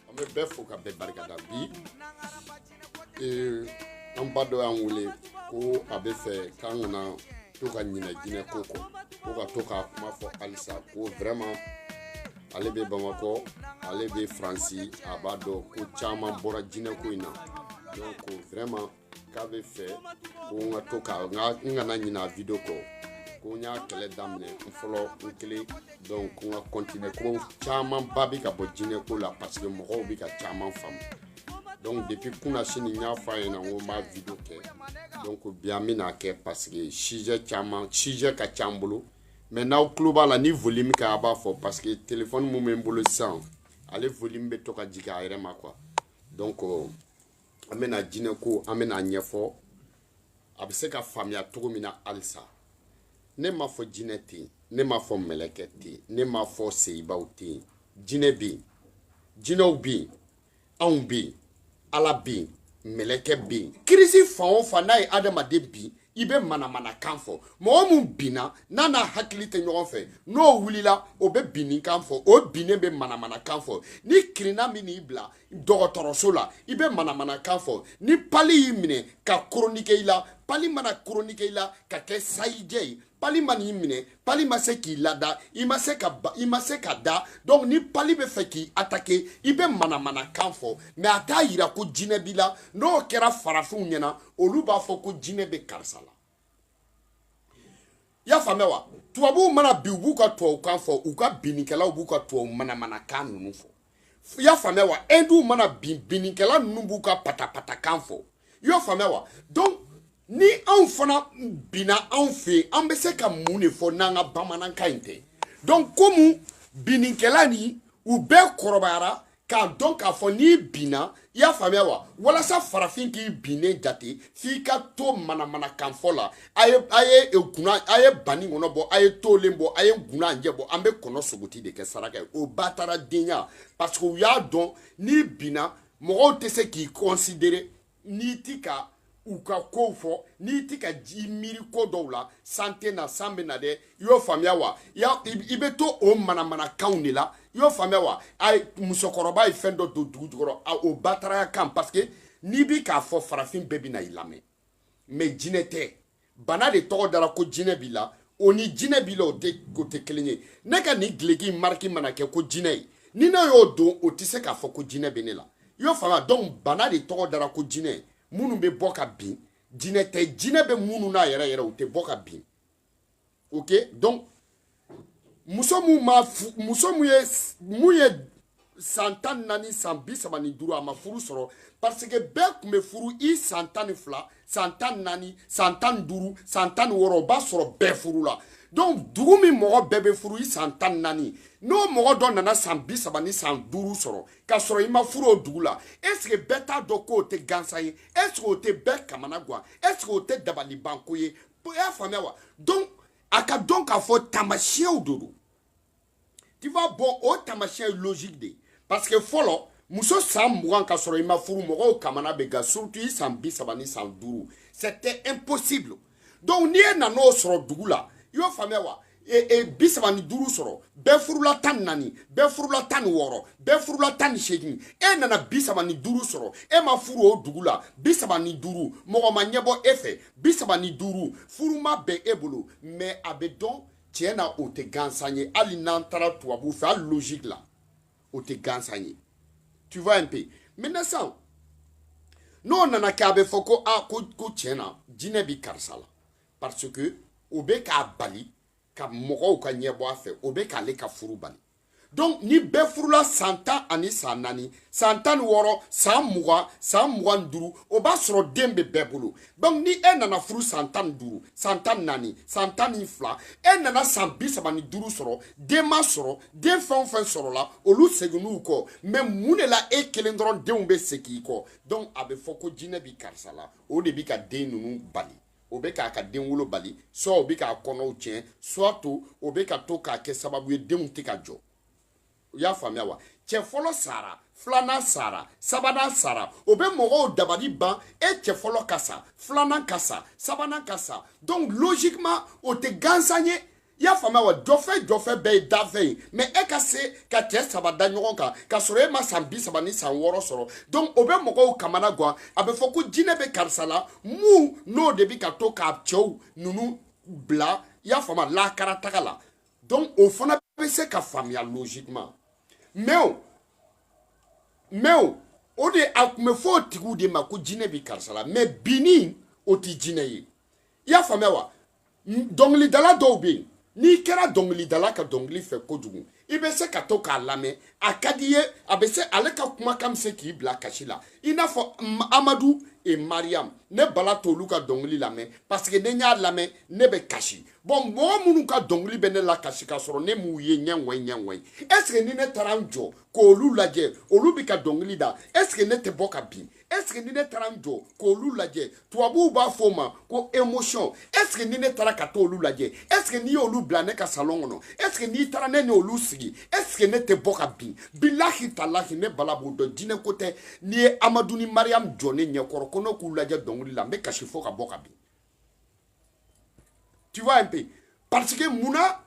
an bɛ bɛɛ fo ka bɛɛ barikada bi an ba dɔ y'an wele ko a bɛ fɛ k'an kana to ka ɲinɛ jinɛ ko kɔ ko ka to k'a kuma fɔ halisa ko vraiment ale bɛ bamakɔ ale bɛ faransi a b'a dɔn ko caman bɔra jinɛ ko in na donc vraiment k'a bɛ fɛ ko n ka to ka n ka n kana ɲinɛ a video kɔ ko n y'a kɛlɛ daminɛ n fɔlɔ n kelen donc ko n ka continuer ko camanba bɛ ka bɔ jinɛ ko la parce que mɔgɔw bɛ ka caman faamu donc depuis kunasini n y'a fɔ a ɲɛna n ko n b'a video kɛ donc bi an bɛna kɛ parce que sujet caman sujet ka ca n bolo mais n'aw tulo b'a la ni volume kɛ a b'a fɔ parce que téléphone min bɛ n bolo sisan ale volume bɛ to ka jigin a yɛrɛ ma quoi donc. Euh, an bɛna jinɛ ko an bɛna ɲɛfɔ a bɛ se ka faamuya cogo min na halisa ne m'a fɔ jinɛ tɛ yen ne m'a fɔ mɛlɛkɛ tɛ yen ne m'a fɔ seyibaw tɛ yen jinɛ bɛ yen jinɛw bɛ yen anw bɛ yen ala bɛ yen mɛlɛkɛ bɛ yen kirisi fan o fan n'a ye adamaden bin i bɛ manamanakan fɔ mɔgɔ min binna n'a n'a hakili tɛ ɲɔgɔn fɛ n'o wulila o bɛ binni kan fɔ o binnen bɛ manamanakan fɔ ni kirinna min n'i bila dɔgɔtɔrɔso la i bɛ manamanakan fɔ ni pali y'i minɛ ka koronike i la pali mana koronike i la ka kɛ sayijɛ ye pali man'i minɛ pali ma se k'i lada i ma se ka ba i ma se ka da donc ni pali bɛ fɛ k'i attaquer i bɛ manamanakan fɔ mais a t'a yira ko jinɛ b'i la n'o kɛra farafinw ɲɛna olu b'a fɔ ko jinɛ bɛ karisa la i y'a faamuya wa tubabuw mana bin u b'u ka tubabukan fɔ u ka binnikɛlaw b'u ka tubabu manamanakan ninnu fɔ i y'a faamuya wa ɛndiw mana bin binnikɛla ninnu b'u ka patapatakan fɔ i y'a faamuya wa donc ni anw fana binna anw fɛ yan an bɛ se ka mun de fɔ n'an ka bamanankan in tɛ donc komi binnikɛla ninnu bɛɛ kɔrɔbayara k'a dɔn k'a fɔ n'i binna i y'a faamuya wa walasa farafin k'i binnen jate f'i ka to manamanakanfɔ la a ye a ye e kunna a ye baninkɔnɔ bɔ a ye tolen bɔ a ye gunanjɛ bɔ an bɛ kɔnɔ sogoti de kɛ saraka ye o bataradenya parce que u y'a dɔn n'i binna mɔgɔw tɛ se k'i considérer n'i ti ka u ka kow fɔ n'i ti ka i miiri ko dɔw la san tɛ na san bɛ na dɛ i y'o faamuya wa i bɛ to o manamanakanw de la i y'o faamuya wa a musokɔrɔba ye fɛn dɔ don dugu jukɔrɔ a o bataraya kan parce que n'i bi k'a fɔ farafin bɛɛ bɛna i lamɛn mais jinɛ tɛ bana de tɔgɔ dara ko jinɛ b'i la o ni jinɛ b'i la o tɛ kelen ye ne ka nin gileki mariki mana kɛ ko jinɛ ye ni ne y'o don o tɛ se k'a fɔ ko jinɛ bɛ ne la i y'o faamuya donc bana de tɔgɔ dara ko jinɛ minnu bɛ bɔ ka bin jinɛ tɛ jinɛ bɛ minnu na yɛrɛ yɛrɛ u tɛ bɔ ka bin ok donc muso mun ma muso mun ye mun ye san tan naani san bi saba ni duuru a ma furu sɔrɔ parce que bɛɛ tun bɛ furu i san tan ni fila san tan naani san tan duuru san tan wɔɔrɔ o b'a sɔrɔ bɛɛ furu la donc dugu min mɔgɔ bɛɛ bɛ furu i san tan naani n'o mɔgɔ dɔ nana san bi saba ni san duuru sɔrɔ ka sɔrɔ i ma furu o dugu la est-ce que bɛɛ t'a dɔn k'o tɛ gansan ye est-ce que o tɛ bɛɛ kamana gan est-ce que o tɛ dabalibanko ye i y'a faamuya wa donc a k'a dɔn k'a fɔ taamasiyɛnw de don tu vois bon o taamasiyɛn ye logique de ye parce que fɔlɔ muso san mugan ka sɔrɔ i ma furu mɔgɔw kamana bɛ gan surtout i san bi saba ni san duuru c'était impossible donc ni e nan'o sɔrɔ dugu la i y'o faamuya wa bi saba ni duuru sɔrɔ bɛɛ furula tan ni naani bɛɛ furula tan ni wɔɔrɔ bɛɛ furula tan ni seegin e nana bi saba ni duuru sɔrɔ e ma furu o dugu la bi saba ni duuru mɔgɔ ma ɲɛbɔ e fɛ bi saba ni duuru furu ma bɛn e bolo mais a bɛ dɔn tiɲɛ na o tɛ gansan ye hali n'an taara tubabu fɛ hali logique la o tɛ gansan ye tu vois un peu maintenant sisan n'o nana kɛ a bɛ fɔ ko a ko ko tiɲɛ na jinɛ bɛ karisa la parce que o bɛ k'a bali ka mɔgɔw ka ɲɛbɔ a fɛ o bɛ k'ale ka furu bali donc ni bɛɛ furula san tan ani san naani san tan ni wɔɔrɔ san mugan san mugan ni duuru o b'a sɔrɔ den bɛ bɛɛ bolo donc ni e nana furu san tan ni duuru san tan ni naani san tan ni fila e nana san bi saba ni duuru sɔrɔ den ma sɔrɔ den fɛn o fɛn sɔrɔla olu seginn'u kɔ mais mun de la e kelen dɔrɔn denw bɛ segin i kɔ donc a bɛ fɔ ko jinɛ bi karisa la o de bi ka den ninnu bali o bɛ k'a ka den wolo bali soit o bɛ k'a kɔnɔw tiɲɛ soit o bɛ ka to k'a kɛ sababu ye denw tɛ ka jɔ i y'a faamuya wa cɛ fɔlɔ sara filanan sara sabanan sara o bɛ mɔgɔw dabali ban e cɛ fɔlɔ ka sa filanan ka sa sabanan ka sa donc logiquement o tɛ gansan ye i y'a faamuya wa jɔfɛ jɔfɛ bɛɛ ye dafɛ ye mais e ka se ka cɛ saba da ɲɔgɔn kan k'a sɔrɔ e ma san bi saba ni san wɔɔrɔ sɔrɔ donc o bɛ mɔgɔw kamana gan a bɛ fɔ ko jinɛ bɛ karisa la mun n'o de bɛ ka to k'a cɛw ninnu bila i y'a faamuya lakara taga la donc o fana bɛ se ka faamuya logiquement mais o mais o o de a tun bɛ fɔ o tigiw de ma ko jinɛ bɛ karisa la mais binni o tɛ jinɛ ye i y'a faamuya wa dɔnkilidala dɔw bɛ yen n'i kɛra dɔnkilidala ka dɔnkili fɛ kojugu i bɛ se ka to k'a lamɛn a ka di i ye a bɛ se ale ka kumakan bɛ se k'i bila kasi la i n'a fɔ amadu et mariam ne bala t'olu ka dɔnkili lamɛn parce que ne y'a lamɛn ne bɛ kasi bon mɔgɔ minnu ka dɔnkili bɛ ne lakasi k'a sɔrɔ ne m'u ye ɲɛŋɔyi ɲɛŋɔyi est-ce que ni ne taara n jɔ k'olu lajɛ olu bɛ ka dɔnkili da est-ce que ne tɛ bɔ ka bin est ce que ni ne taara n jɔ k'olu lajɛ tubabuw b'a fɔ o ma ko émotion est ce que ni ne taara ka t'olu lajɛ est ce que n'i y'olu bila ne ka salon kɔnɔ est ce que n'i taara ne n'olu sigi est ce que ne tɛ bɔ ka bin bilahi talahi ne bala b'o dɔn jinɛ ko tɛ n'i ye amadu ni mariyamu jɔ ne ɲɛkɔrɔ ko ne k'u lajɛ dɔnkili la n bɛ kasi fo ka bɔ ka bin tu vois un peu parce que mun na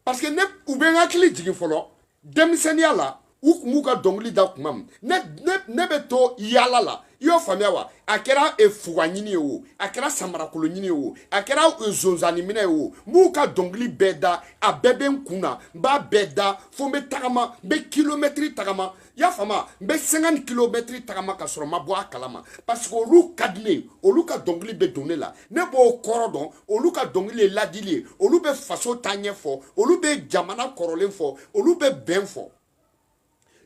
parce que ne u bɛ n hakili jigin fɔlɔ denmisɛnninya la u kun b'u ka dɔnkili da kuma min ne ne ne bɛ to yaala la i y'o faamuya wa a kɛra e, fuga ɲini ye o a kɛra samarakolo ɲini ye o a kɛra e, zonzani minɛ ye o n b'u ka dɔnkili bɛɛ da a bɛɛ bɛ n kun na n b'a bɛɛ da fo n bɛ tagama n bɛ kilomɛtiri tagama i y'a faamu n bɛ cinq kilomɛtiri tagama ka sɔrɔ n ma bɔ a kalama parce que olu ka di ne ye olu ka dɔnkili bɛ don ne la ne b'o kɔrɔ dɔn olu ka dɔnkili ye ladili ye olu bɛ faso taaɲɛ fɔ olu bɛ jamana kɔrɔlen fɔ olu bɛ bɛn fɔ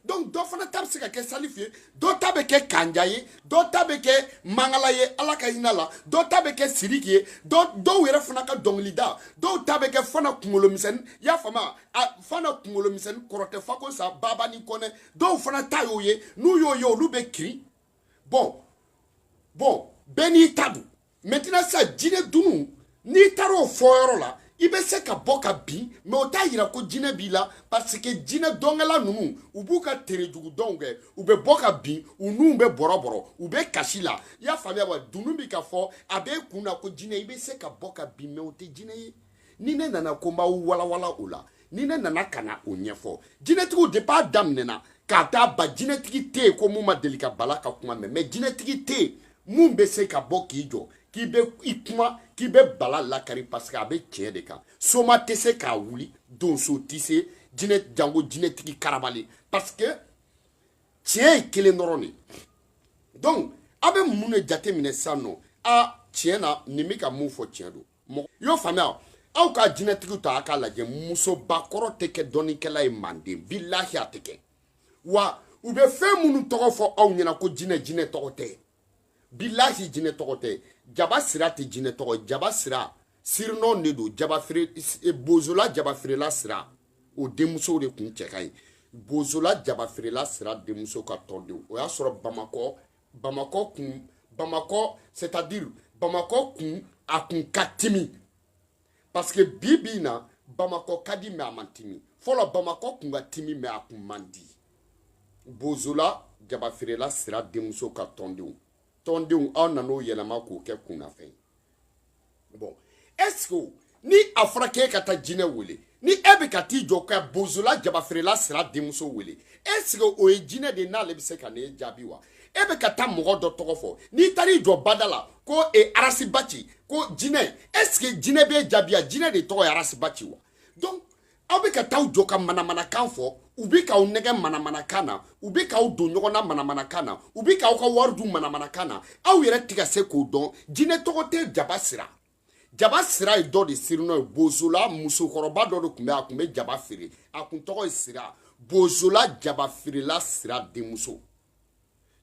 donc dɔ fana ta bɛ se ka kɛ salifu ye dɔ ta bɛ kɛ kanja ye dɔ ta bɛ kɛ mangala ye ala ka hinɛ a la dɔ ta bɛ kɛ siriki ye dɔ dɔw yɛrɛ fana ka dɔnkilida dɔw ta bɛ kɛ fana kunkolomisɛnni i y'a faamuya fana kunkolomisɛnni kɔrɔ tɛ fako sa babani kɔnɛ dɔw fana ta y'o ye n'u y'o ye olu bɛ kirin bon bon bɛɛ n'i ta don maintenant sa jinɛ dunu n'i taara o fɔ yɔrɔ la i bɛ se ka bɔ ka bin mais o t'a yira ko jinɛ b'i la parce que jinɛ dɔnkɛla ninnu u b'u ka terejugu dɔnw kɛ u bɛ bɔ ka bin u nun bɛ bɔrɔbɔrɔ u bɛ kasi la i y'a faamuya wa dunun bi ka fɔ a b'e kun na ko jinɛ i bɛ se ka bɔ ka bin mais o tɛ jinɛ ye ni ne nana ko n b'aw walawala o la ni ne nana ka na o ɲɛfɔ jinɛtigiw depuis a daminɛ na ka t'a ban jinɛtigi tɛ yen ko mun ma deli ka bala ka kuma mɛn mais jinɛtigi tɛ yen mun bɛ se ka bɔ k'i jɔ k'i bɛ i kuma k'i bɛ bala lakari parce que a bɛ tiɲɛ de kan soma tɛ se k'a wuli donso tɛ se jinɛ jango jinɛtigi karabalen parce que tiɲɛ ye kelen dɔrɔn de donc a bɛ mun de jateminɛ sisan non a tiɲɛ na nin bɛ ka mun fɔ tiɲɛ don i y'o faamuya aw ka jinɛtigiw ta a k'a lajɛ musobakɔrɔ tɛ kɛ dɔnnikɛla ye manden bilahi a tɛ kɛ wa u bɛ fɛn minnu tɔgɔ fɔ aw ɲɛna ko jinɛ jinɛ tɔgɔ tɛ bilahi jinɛ tɔgɔ tɛ jaba sira tɛ jinɛ tɔgɔ jaba sira surnom de don jaba feere e, bozola jaba feerela sira o denmusow de kun cɛ ka ɲi bozola jaba feerela sira denmuso ka tɔndenw o y'a sɔrɔ bamakɔ bamakɔ kun bamakɔ c'est à dire bamakɔ kun a kun ka timi parce que bi bi in na bamakɔ ka di mais a man timi fɔlɔ bamakɔ kun ka timi mais a kun man di bozola jaba feerela sira denmuso ka tɔndenw tɔndenw aw nan'o yɛlɛma k'o kɛ kunnafɛn ye bon est-ce que ni a fɔra k'e ka taa jinɛ wele ni e bɛ ka t'i jɔ ka bozola jabafeerela sira denmuso wele est-ce que o ye jinɛ de n'ale bɛ se ka ne jaabi wa e bɛ ka taa mɔgɔ dɔ tɔgɔ fɔ n'i taara i jɔ bada la ko e arasiba ci ko jinɛ est-ce que jinɛ b'e jaabi wa jinɛ de tɔgɔ ye arasiba ci wa donc aw bɛ ka t'aw jɔ ka manamanakan fɔ u bɛ k'aw nɛgɛn manamanakan na u bɛ k'aw don ɲɔgɔn na manamanakan na u bɛ k'aw ka wari dun manamanakan na aw yɛrɛ tɛ ka se k'o dɔn jinɛ tɔgɔ tɛ jaba sira jaba sira ye dɔ de surnom ye bozola musokɔrɔba dɔ de tun bɛ a tun bɛ jaba feere a tun tɔgɔ ye sira bozola jaba feerela sira denmuso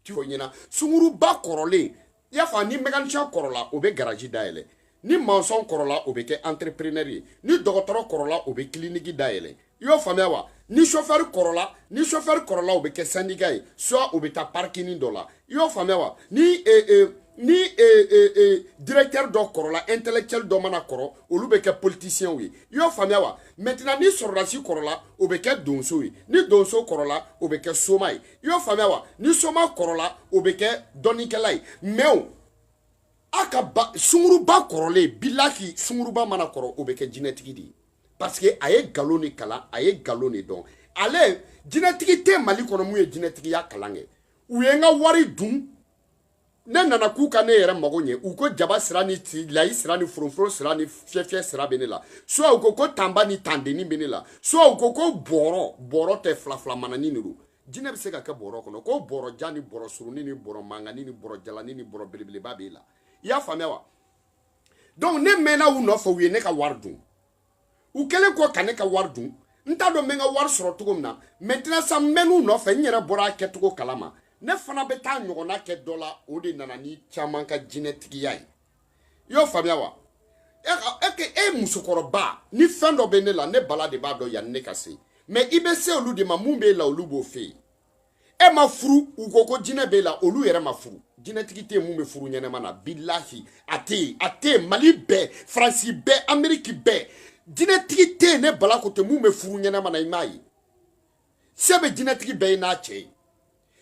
ti fɔ ɲɛna sunguruba kɔrɔlen i y'a fɔ ni mécanicien kɔrɔla o bɛ garaji dayɛlɛ ni maçon kɔrɔla o bɛ kɛ entrepreneur ye ni dɔgɔtɔrɔ kɔrɔla o bɛ kiliniki dayɛlɛ i y'o faamuya wa ni sofɛri kɔrɔla ni sofɛri kɔrɔla o bɛ kɛ syndicat ye soit o bɛ taa parking dɔ la i y'o faamuya wa ni ee ee ni ee ee ee directeur dɔ kɔrɔla intellectuel dɔ mana kɔrɔ olu bɛ kɛ politicienw ye i y'o faamuya wa maintenant ni sɔrɔdasi kɔrɔla o bɛ kɛ donso ye ni donso kɔrɔla o bɛ kɛ soma ye i y'o faamuya wa ni soma kɔrɔla o bɛ kɛ dɔnnikɛla ye mais a ka sunguruba kɔrɔlen bilahi sunguruba mana kɔrɔ o bɛ kɛ jinɛtigi de ye parce que a ye nkalon de kalan a ye nkalon de dɔn ale jinɛtigi tɛ mali kɔnɔ mun ye jinɛtigiya kalan kɛ u ye n ka wari dun ne nana k'u ka ne yɛrɛ mago ɲɛ u ko jaba sira ni layi sira ni foroforo sira ni fiyɛfiyɛ sira bɛ ne la soit u ko ko tanba ni tandenni bɛ ne la soit u ko ko bɔrɔ bɔrɔ tɛ filafila manani de don jinɛ bɛ se ka kɛ bɔrɔ kɔnɔ ko bɔrɔ jan ni bɔrɔ surunin ni bɔrɔ mangani ni bɔrɔ jalani ni bɔrɔ belebeleba b'e la i y'a faamuya wa donc ne mɛnna u nɔfɛ u ye ne ka wari dun u kɛlen kɔ ka ne ka wari dun n t'a dɔn n bɛ n ka wari sɔrɔ cogo min na maintenant sa n mɛn'u nɔfɛ n yɛrɛ bɔra a kɛcogo kalama ne fana bɛ taa ɲɔgɔnna kɛ dɔ la o de nana ni caman ka jinɛtigiya ye i y'o faamuya wa e ke e musokɔrɔba ni fɛn dɔ bɛ ne la ne bala de b'a dɔn yanni ne ka se mais i bɛ se olu de ma mun b'e la olu b'o fɛ yen e ma furu u ko ko jinɛ b'e la olu yɛrɛ ma furu jinɛtigi tɛ mun bɛ furu ɲɛnɛma na bilahi a tɛ yen a tɛ yen mali bɛɛ faransi bɛɛ ameriki bɛɛ jinɛtigi tɛ yen ne bala ko tɛ mun bɛ furu ɲɛnɛma na i m'a ye se bɛ jinɛtigi bɛɛ ye n'a cɛ ye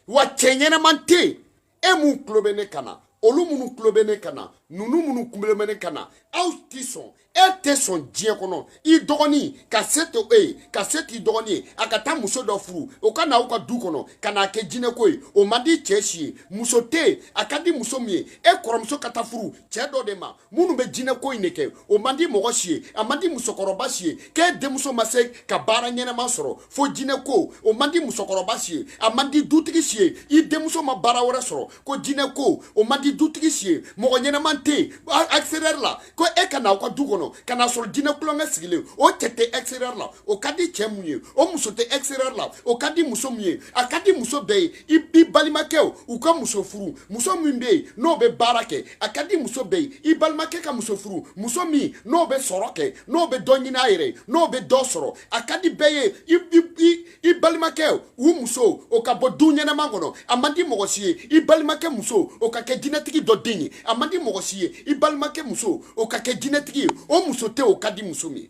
wa cɛ ɲɛnɛman tɛ yen e mun tulo bɛ ne kan na olu minnu tulo bɛ ne kan na ninnu minnu tulo bɛ ne kan na aw tɛ sɔn e tɛ sɔn diɲɛ kɔnɔ i dɔgɔnin ka se to e ye ka se t'i dɔgɔnin ye a ka taa muso dɔ furu o ka na aw ka du kɔnɔ ka n'a kɛ jinɛko ye o man di cɛ si ye muso tɛ yen a ka di muso min ye e kɔrɔmuso ka taa furu cɛ dɔ de ma minnu bɛ jinɛko in de kɛ o man di mɔgɔ si ye a man di musokɔrɔba si ye k'e denmuso ma se ka baara ɲɛnɛma sɔrɔ fo jinɛko o man di musokɔrɔba si ye a man di dutigi si ye i denmuso ma baara wɛrɛ sɔrɔ ko jinɛko o man di dutigi si ye mɔgɔ ɲɛnɛman tɛ yen extérieur la ko e ka na aw ka du kɔnɔ ka n'a sɔrɔ jinɛ kulonkɛ sigilen o cɛ tɛ extérieur la o ka di cɛ mun ye o muso tɛ extérieur la o ka di muso mun ye a ka di muso bɛɛ ye i i balimakɛw u ka muso furu muso min bɛ yen n'o bɛ baara kɛ a ka di muso bɛɛ ye i balimakɛ ka muso furu muso min n'o bɛ sɔrɔ kɛ n'o bɛ dɔ ɲini a yɛrɛ ye n'o bɛ dɔ sɔrɔ a ka di bɛɛ ye i i i i balimakɛ u muso o ka bɔ du ɲɛnama kɔnɔ a man di mɔgɔ si ye i balimakɛ muso o ka kɛ jinɛtigi dɔ den ye a man di mɔgɔ si ye i balimakɛ muso o ka kɛ jinɛtigi ye o muso tɛ o ka di muso min ye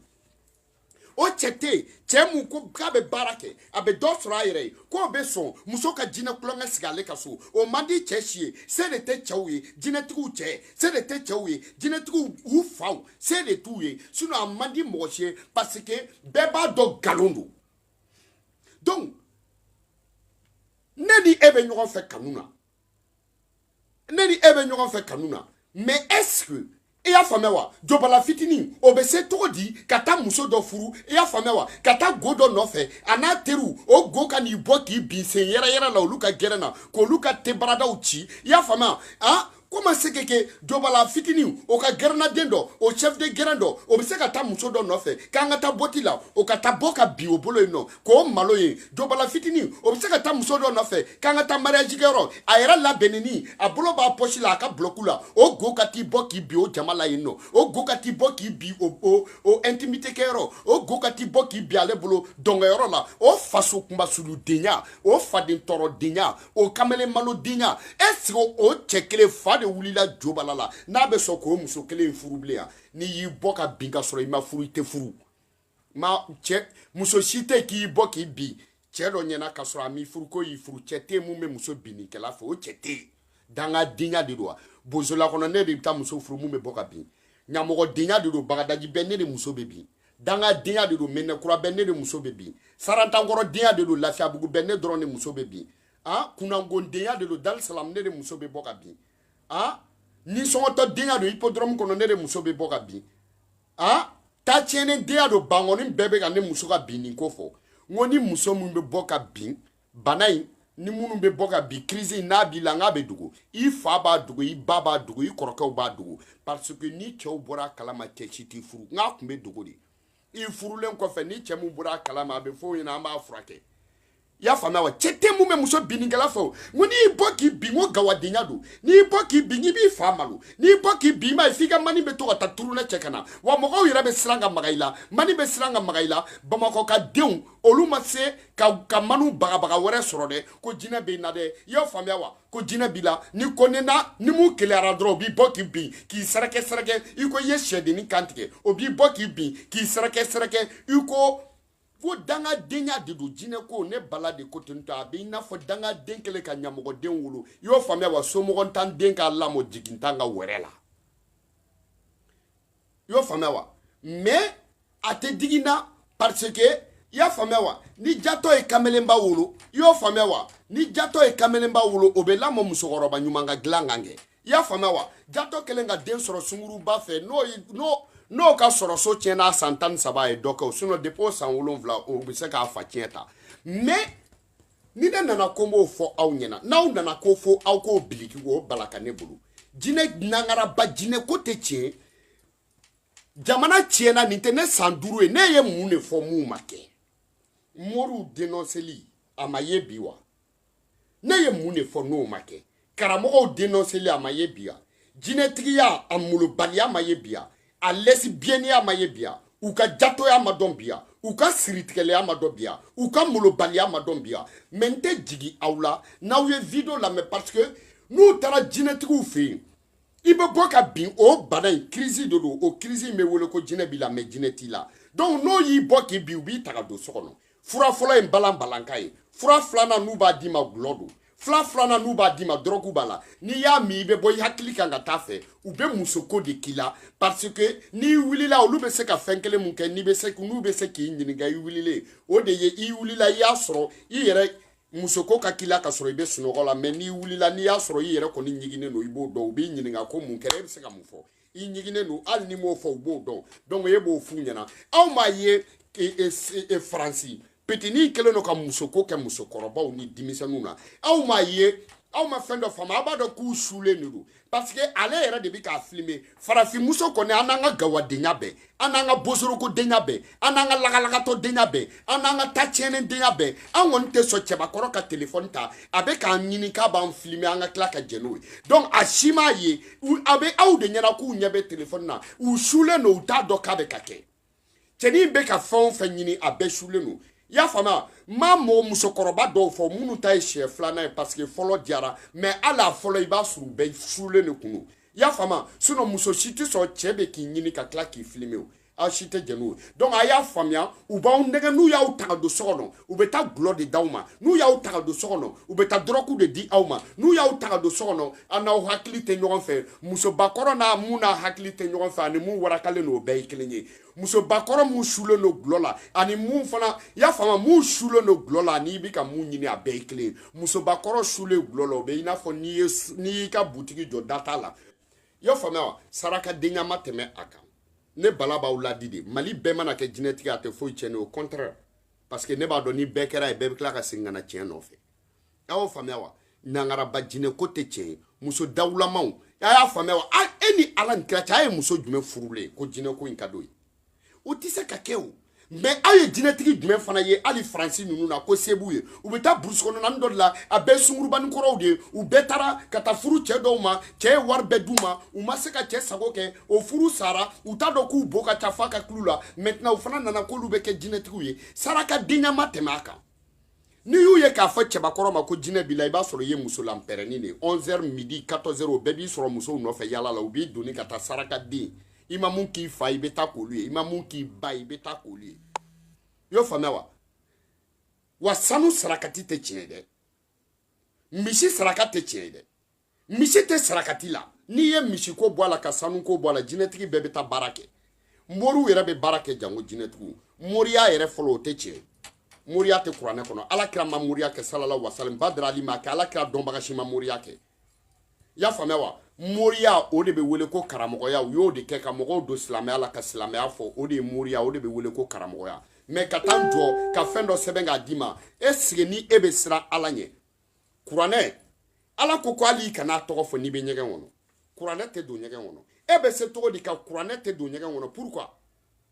o cɛ tɛ yen cɛ mun ko k'a bɛ baara kɛ a bɛ dɔ sɔrɔ a yɛrɛ ye k'o bɛ sɔn muso ka jinɛ kulonkɛ sigi ale ka so o man di cɛ si ye se de tɛ cɛw ye jinɛtigiw cɛ se de tɛ cɛw ye jinɛtigiw u faw se de t'u ye sinon a man di mɔgɔ si ye parce que bɛɛ b'a dɔn nkalon don donc ne ni e bɛ ɲɔgɔn fɛ kanu na ne ni e bɛ ɲɔgɔn fɛ kanu na mais est ce que i y'a faamuya wa jɔbala fitinin o bɛ se cogo di ka taa muso dɔ furu i y'a faamuya wa ka taa go dɔ nɔfɛ a n'a teriw o go ka n'i bɔ k'i bin sen yɛrɛyɛrɛ la olu ka gɛrɛ na k'olu ka tebaradaw ci i y'a faamuya han comment est ce que jɔbala fitinin o ka gɛrɛnaden dɔ o chef de gɛrɛn dɔ o bɛ se ka taa muso dɔ nɔfɛ k'an ka taa boîte la o ka taa bɔ ka bin o bolo yen nɔ k'o malo ye jobala fitinin o bɛ se ka taa muso dɔ nɔfɛ k'an ka taa mariage kɛyɔrɔ a yɛrɛ labɛnnen a bolo b'a pɔsi la a ka bulɔku la o go ka t'i bɔ k'i bin o jama la yen nɔ o go ka t'i bɔ k'i bin o o o intimité kɛyɔrɔ o go ka t'i bɔ k'i bin ale bolo dɔnkɛyɔrɔ la o faso kunbasuludenya o faden tɔɔrɔdenya o kamalen malodenya est ce que o cɛ kelen fa de wulila jobala la n'a bɛ sɔn k'o muso kelen furu bilen yan n'i y'i bɔ ka bin ka sɔrɔ i ma furu i tɛ furu ma cɛ muso si tɛ k'i bɔ k'i bin cɛ dɔ ɲɛna ka sɔrɔ a m'i furu k'o y'i furu cɛ tɛ mun bɛ muso binnikɛla fɛ o cɛ tɛ yen danga denya de don wa bozola kɔnɔ ne de bɛ taa muso furu mun bɛ bɔ ka bin ɲamɔgɔ denya de don bagadaji bɛɛ ne de muso bɛ bin danga denya de don medinakura bɛɛ ne de muso bɛ bin sarantankɔrɔ denya de don lafiyabugu bɛɛ ne dɔrɔn de muso bɛ bin ah kunnangon denya de don dalisalam ne de muso bɛ bɔ ka bin a nisɔngɔtɔ denya don hippodrome kɔnɔ ne de muso bɛ bɔ ka bin a ta tiɲɛnen denya don bankɔni bɛɛ bɛ ka ne muso ka bin nin ko fɔ n ko ni muso min bɛ bɔ ka bin bana in ni minnu bɛ bɔ ka bin crise n'a b'i la n k'a bɛ dogo i fa b'a dogo i ba b'a dogo i kɔrɔkɛw b'a dogo parce que ni cɛw bɔra a kalama cɛ si t'i furu n k'a tun bɛ dogo de i furulen kɔfɛ ni cɛ mun bɔra a kalama a bɛ fɔ o ɲɛna an b'a furakɛ i y'a faamuya wa cɛ tɛ mun bɛ muso binnikɛla fɛ o n ko n'i y'i bɔ k'i bin ko gawadenya don n'i y'i bɔ k'i bin i b'i fa malo n'i y'i bɔ k'i bin i m'a ye f'i ka mani bɛ to ka taa turunɛ cɛ ka na wa mɔgɔw yɛrɛ bɛ siran ka maga i la mani bɛ siran ka maga i la bamakɔ ka denw olu ma se ka ka manu bagabaga wɛrɛ sɔrɔ dɛ ko jinɛ bɛ n na dɛ i y'a faamuya wa ko jinɛ b'i la ni ko ne na ni mun keleyara dɔrɔn o b'i bɔ k'i bin k'i sɛrɛkɛsɛrɛkɛ i ko i ye sɛdennin kan tigɛ o b'i bɔ k'i bin k'i sɛrɛkɛsɛrɛkɛ i ko ko dangadenya de don jinɛ ko ne bala de ko ten to a bɛ i n'a fɔ dangaden kɛlen ka ɲamɔgɔden wolo i y'o faamuya wa somɔgɔntan den k'a lamɔ jigintan ka wɛrɛ la i y'o faamuya wa mais a tɛ digi n na parce que i y'a faamuya wa ni jatɔ ye kamelenba wolo i y'o faamuya wa ni jatɔ ye kamelenba wolo o bɛ lamɔ musokɔrɔba ɲuman ka dilan kan kɛ i y'a faamuya wa jatɔ kɛlen ka den sɔrɔ sunguruba fɛ n'o ka sɔrɔ so tiɲɛna a san tan ni saba ye dɔ kɛ o sinɔn depi o san wolonwula o bɛ se k'a fa tiɲɛ ta mais ni ne nana ko n b'o fɔ aw ɲɛna n'aw nana ko fo aw k'o biliki o bala ka ne bolo jinɛ nangaraba jinɛko tɛ tiɲɛ jamana tiɲɛna nin tɛ ne san duuru ye ne ye mun de fɔ mun ma kɛ moriw denɔseli a ma ye bi wa ne ye mun de fɔ n'o ma kɛ karamɔgɔw denɔseli a ma ye bi yan jinɛtigiya a molobaliya ma ye bi yan a lɛsibiyɛniya ma ye bi yan u ka jatoya ma dɔn bi yan u ka siritigɛlɛya ma dɔn bi yan u ka molobaliya ma dɔn bi yan mɛ n tɛ jigi aw la n'aw ye video lamɛn parce que n'u taara jinɛtigiw fɛ yen i bɛ bɔ ka bin o bana in kirisi de don o kirisi in bɛ wele ko jinɛ b'i la mɛ jinɛ t'i la donc n'o y'i bɔ k'i bin u b'i ta ka don so kɔnɔ fura fɔlɔ ye balan balanka ye fura filanan n'u b'a d'i ma gulɔ don fura filanan n'u b'a d'i ma dɔrɔgu b'a la n'i y'a min i bɛ bɔ i hakili kan ka taa fɛ u bɛ musoko de k'i la parce que n'i wulila olu bɛ se ka fɛn kelen mun kɛ n'u bɛ se k'i ɲininka i wulilen o de ye i wulila i y'a sɔrɔ i yɛrɛ musoko ka k'i la ka sɔrɔ i bɛ sunɔgɔ la mɛ n'i wulila n'i y'a sɔrɔ i yɛrɛ kɔni ɲiginnen don i b'o dɔn u b'i ɲininka ko mun kɛra e bɛ se ka mun fɔ i ɲiginnen don hali n'i m'o fɔ u b'o dɔn donc e b'o f'u ɲɛna aw m'a ye faransi pitinin kɛlen don ka musoko kɛ musokɔrɔbaw ni denmisɛnninw na aw m'a ye aw ma fɛn dɔ faamu aw b'a dɔn k'u sulen de don parce que ale yɛrɛ de bɛ k'a filime farafinmuso kɔni an n'an ka gawadenya bɛɛ an n'an ka bosorokodenya bɛɛ an n'an ka lagalagatɔdenya bɛɛ an n'an ka ta tiɲɛnen denya bɛɛ an kɔni tɛ sɔn cɛbakɔrɔ ka telefɔni ta a bɛ k'an ɲini k'a b'an filime an ka tila ka jɛ n'o ye donc a si m'a ye a bɛ aw de ɲɛna k'u ɲɛ bɛ telefɔni na u sulen don u t'a dɔn k'a bɛ ka kɛ cɛnin bɛ ka fɛn o fɛn ɲini a bɛɛ sulen don i y'a faamuya n ma mɔgɔ musokɔrɔba dɔw fɔ minnu ta ye siɲɛ filanan ye paseke fɔlɔ diyara mɛ hali a fɔlɔ i b'a sɔrɔ u bɛɛ sulen de kun don i y'a faamuya sinon muso si tɛ sɔn cɛ bɛ k'i ɲini ka tila k'i filmer o aw si tɛ jɛn n'o ye donc a y'a faamuya u b'aw nɛgɛ n'u y'aw ta ka don so kɔnɔ u bɛ taa gulɔ de d'aw ma n'u y'aw ta ka don so kɔnɔ u bɛ taa dɔrɔgu de di aw ma n'u y'aw ta ka don so kɔnɔ a n'aw hakili tɛ ɲɔgɔn fɛ musobakɔrɔ n'a mun n'a hakili tɛ ɲɔgɔn fɛ ani mun warakalen don o bɛɛ ye kelen ye musobakɔrɔ mun sulen don gulɔ la ani mun fana y'a faamu mun sulen don gulɔ la n'i bɛ ka mun ɲini a bɛɛ ye kelen ye musobakɔrɔ sulen gulɔ la o bɛ i n'a fɔ n'i ye n'i y'i ka butigi jɔ da t'a la i y'a faamuya wa sarakadenya ma tɛmɛ a kan ne bala b'aw laadi de mali bɛɛ mana kɛ jinɛtigi a tɛ foyi tiɲɛ ne au contraire parce que ne b'a dɔn ni bɛɛ kɛr'a ye bɛɛ bɛ tila ka segin ka na tiɲɛ nɔfɛ a y'o faamuya wa nangaraba jinɛ ko tɛ tiɲɛ ye muso dawulamaw a y'a faamuya wa a e ni ala ni kira cɛ a ye muso jumɛn furulen ye ko jinɛ ko in ka d'o ye o tɛ se ka kɛ o mais aw ye jinɛtigi jumɛn fana ye hali faransi ninnu na ko se b'u ye u bɛ taa burusi kɔnɔnani dɔ de la a bɛɛ sungurubani kɔrɔw de ye u bɛɛ taara ka taa furu cɛ dɔw ma cɛ ye wari bɛɛ d'u ma u ma se ka cɛ sago kɛ o furu sara u t'a dɔn k'u bo ka ca f'a ka kulu la maintenant u fana nana k'olu bɛ kɛ jinɛtigiw ye sarakadenya ma tɛmɛ a kan n'i y'u ye k'a fɔ cɛbakɔrɔ ma ko jinɛ b'i la i b'a sɔrɔ i ye musolanpɛrɛnni de ye 11 heures midi 14 heures o bɛɛ b'i sɔrɔ musow nɔfɛ yaala la u b'i doni ka taa sarakaden i ma mun k'i fa i bɛ taa k'olu ye i ma mun k'i ba i bɛ taa k'olu ye i y'o faamuya wa wa sanu sarakati tɛ tiɲɛ ye dɛ misi saraka tɛ tiɲɛ ye dɛ misi tɛ sarakati la n'i ye misiko bɔ a la ka sanuko bɔ a la jinɛtigi bɛɛ bɛ taa baara kɛ moriw yɛrɛ bɛ baara kɛ janko jinɛtigiw moriya yɛrɛ fɔlɔ o tɛ tiɲɛ moriya tɛ kuranɛ kɔnɔ ala kira ma moriya kɛ salala wasalim badara ali m'a kɛ ala kira dɔnbaga si ma moriya kɛ y'a faamuya wa moriya o de bɛ wele ko karamɔgɔya u y'o de kɛ ka mɔgɔw don silamɛya la ka silamɛya fɔ o de ye moriya o de bɛ wele ko karamɔgɔya mais ka taa jɔ ka fɛn dɔ sɛbɛn k'a d'i ma est-ce que ni e bɛ siran ala ɲɛ kuranɛ ala ko ko hali i kan'a tɔgɔ fɔ n'i bɛ ɲɛgɛn kɔnɔ kuranɛ tɛ don ɲɛgɛn kɔnɔ e bɛ se cogo di ka kuranɛ tɛ don ɲɛgɛn kɔnɔ pourquoi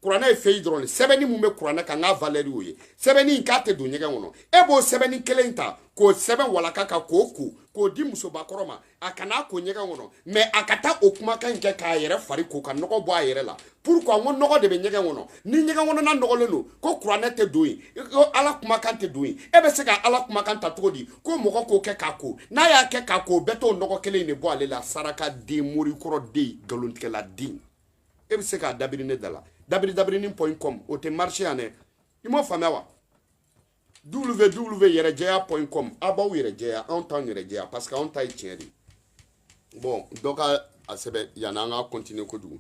kuranɛ ye feuille dɔrɔn de sɛbɛnni mun bɛ kuranɛ kan a ka valeur y'o ye sɛbɛnni in k'a tɛ don ɲɛgɛn kɔnɔ e b'o sɛbɛnni kelen in ta k'o sɛbɛn walaka kan k'o ko k'o di musobakɔrɔ ma a kan'a ko ɲɛgɛn kɔnɔ mais a ka taa o kumakan in kɛ k'a yɛrɛ fari ko ka nɔgɔ bɔ a yɛrɛ la pourquoi n ko nɔgɔ de bɛ ɲɛgɛn kɔnɔ ni ɲɛgɛn kɔnɔna nɔgɔlen don ko kuranɛ tɛ don yen ko ala kumakan tɛ don yen e bɛ se ka ala kumakan ta cogo di ko mɔgɔ k'o kɛ k'a ko n'a y'a kɛ k'a ko o bɛ t'o nɔgɔ kelen in de bɔ ale la sarakaden morikɔrɔ den nkalontigɛla den e bɛ se k'a dabiri ne da la dabiri dabirinin point com o tɛ marché yan dɛ i m'o faamuya wa www yɛrɛjɛya point com a b'aw yɛrɛ jɛya anw t'anw yɛrɛ jɛya parce que anw ta ye tiɲɛ de ye bon dɔ ka a sɛbɛn yanni an ka continuer kojugu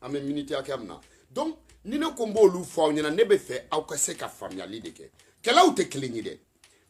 an bɛ miniti hakɛya min na donc ni ne ko n b'olu fɔ aw ɲɛna ne bɛ fɛ aw ka se ka faamuyali de kɛ kɛlaw tɛ kelen ye dɛ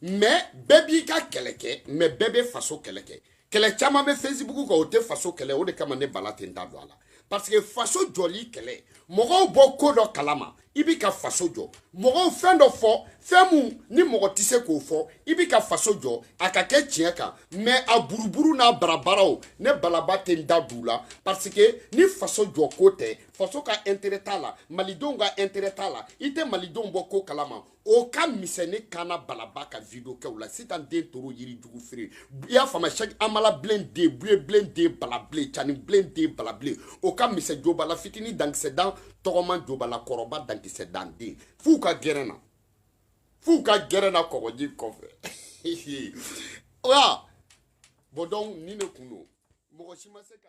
mais bɛɛ b'i ka kɛlɛ kɛ mais bɛɛ bɛ faso kɛlɛ kɛ kɛlɛ caman bɛ facebook kan o tɛ faso kɛlɛ o de kama ne bala tɛ n da don a la parce que faso jɔli kɛlɛ mɔgɔw bɔ ko dɔ kalama i bi ka faso jɔ mɔgɔw fɛn dɔ fɔ fɛn min ni mɔgɔ tɛ se k'o fɔ i bi ka faso jɔ a ka kɛ tiɲɛ kan mais a buruburu n'a barabaraw ne balaba tɛ n da don o la parce que ni faso jɔ ko tɛ faso ka intérêt t'a la malidenw ka intérêt t'a la i tɛ malidenw bɔ ko kalama o ka misɛn ne kana balaba ka video kɛ o la sitan den toro yiri jugu feere i y'a faamuya sɛki amala bilen den buye bilen den bala bilen cani bilen den bala bilen o ka misɛn jobala fitini dankisɛ dan tɔgɔman jobala kɔrɔba dankisɛ dan den f'u ka gɛrɛn na f'u ka gɛrɛn na kɔgɔji kɔfɛ wa a b'o dɔn ko ni ne ko don mɔgɔ si ma se ka